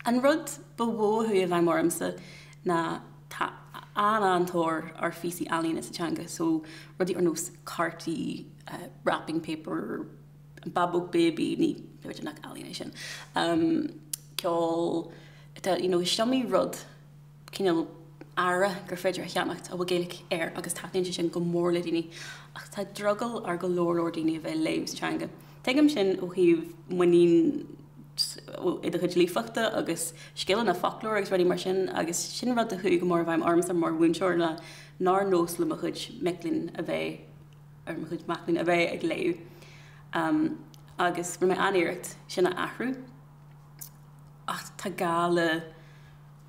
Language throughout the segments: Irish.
An rud ba mhó a chuaigh i bhfeidhm ormsa ná tá an-an-tóir ar phíosaí ealaíne sa teanga so rudaí ar nós cártaí, wrapping paper, an Bábóg Baby, níl, b'fhéidir nach ealaín é sin, ceol, you know, is iomaí rud. cineál earra gur féidir a cheannacht a bhfuil Gaeilge air agus taitníonn sé sin go mór le daoine ach tá drogall ar go leor leor daoine a bheith ag léamh sa teanga. Tuigim sin ó thaobh muinín i do chuid líofachta agus scileanna foclóra agus rudaí mar sin agus sin rud a chuaigh go mór i bhfeidhm ormsa mar mhúinteoir ná nár nós le mo chuid mic léinn a bheith ar mo chuid mac léinn a bheith ag léamh um, agus rinne mé an-iarracht sin a athrú ach tá gá le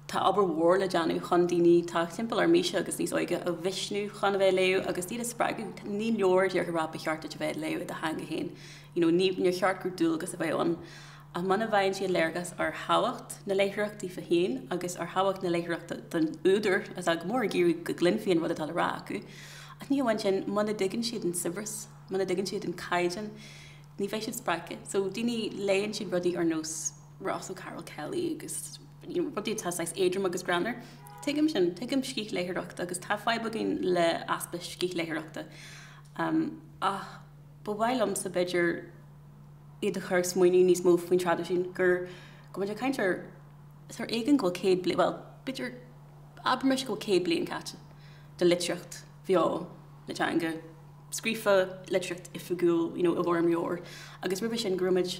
Tá obair mhór le déanamh chun daoine atá timpeall ar m'aoise agus níos óige a mhisniú chun a bheith ag léamh agus iad a spreagadh. Ní leor a rá ba cheart duit a bheith ag léamh i do theanga héin you know ní, níor cheart gur dualgas a bheadh ann ach muna bhfaigheann siad léargas ar thábhacht na léitheoireacht daofa héin agus ar thábhacht na léitheoireachta don údar atá go mór ag iarraidh go gcluinfí an rud atá le rá acu ach ní hamháin sin muna dtuigeann siad an saibhreas, muna dtuigeann siad an caighdeán ní bheidh siad spreagtha so daoine léann siad rudaí ar nós. Ross O'Carroll Kelly agus rudaí atá saghas éadrom agus greannmhar. Tuigim sin, tuigim scíthléitheoireacht agus tá fadhb againn le easpa scíthléitheoireachta. Ach ba mhaith liomsa, b'fhéidir, iad a chur ag smaoineamh níos mó faoin traidisiún, gur, go bhfuil muid ag caint ar, is ar éigean go bhfuil céad bliain, bhuel, b'fhéidir, abraimis go bhfuil céad bliain caite do litríocht bheo na teanga, scríofa, litríocht oifigiúil, you know, i bhfoirm leabhar, agus roimhe sin go raibh muid,